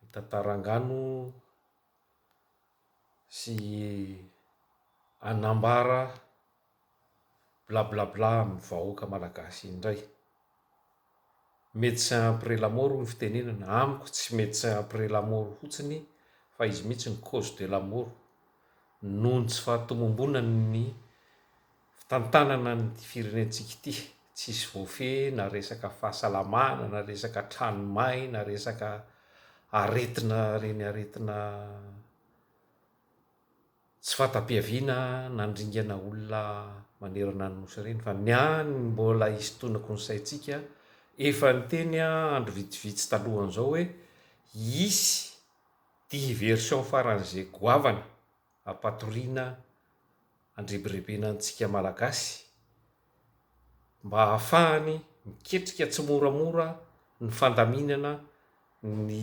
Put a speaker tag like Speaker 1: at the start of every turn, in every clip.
Speaker 1: mitantara angano sy hanambara blablabla amin'ny vahoaka malagasy indray. Médecin après la mort hoy ny fitenenana, amiko tsy médecin après la mort fotsiny fa izy mihitsy no cause de la mort noho ny tsy fahatomombonan'ny fitantanana ny firenentsika ity, tsisy voafehy na resaka fahasalamana na resaka trano may na resaka aretina reny aretina tsy fahatapiaviana nandringana olona manerana ny nosy reny fa ny ahy ny mbola hisintonako ny saintsika efa niteny aho andro vitsivitsy talohan'izao hoe hisy diversion faran'izay goavana ampatoriana andrebirebena antsika Malagasy mba ahafahany miketrika tsimoramora ny fandaminana ny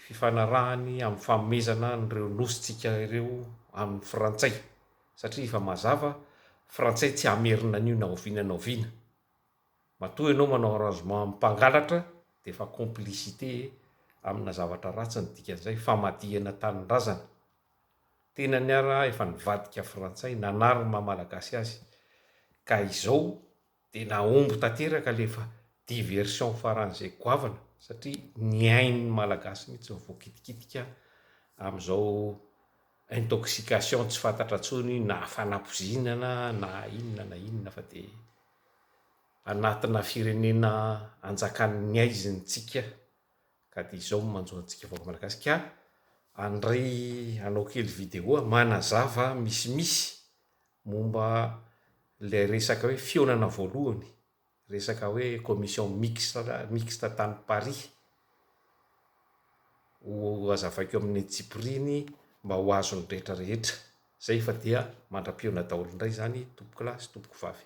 Speaker 1: fifanarahany amin'ny fanomezana an'ireo nosintsika ireo amin'ny Frantsay satria efa mazava Frantsay tsy hamerina an'io na oviana na oviana. Matoa ianao manao arrangement amin'ny mpangalatra dia efa complicité amina zavatra ratsy ny dikan'izay, famadihana tanindrazana. Tena ny ara efa nivadika frantsay, nanary ny maha malagasy azy, ka izao dia nahomby tanteraka ilay efa diversion faran'izay goavana satria ny ain'ny malagasy mihitsy no voakitikitika amin'izao intoxication tsy fantatra intsony na fanapozinana na inona na inona fa dia anatina firenena anjakan'ny haiziny tsika ka dia izao no manjo antsika vahoaka malagasy ka andray anao kely video a manazava misimisy momba ilay resaka hoe fihaonana voalohany resaka hoe commission mixte mixte tany paris ho azavaiko amin'ny antsipiriany mba ho azon'ny rehetra rehetra Zay fa dia mandra-pihaona daholo indray zany tompokolahy sy tompokovavy.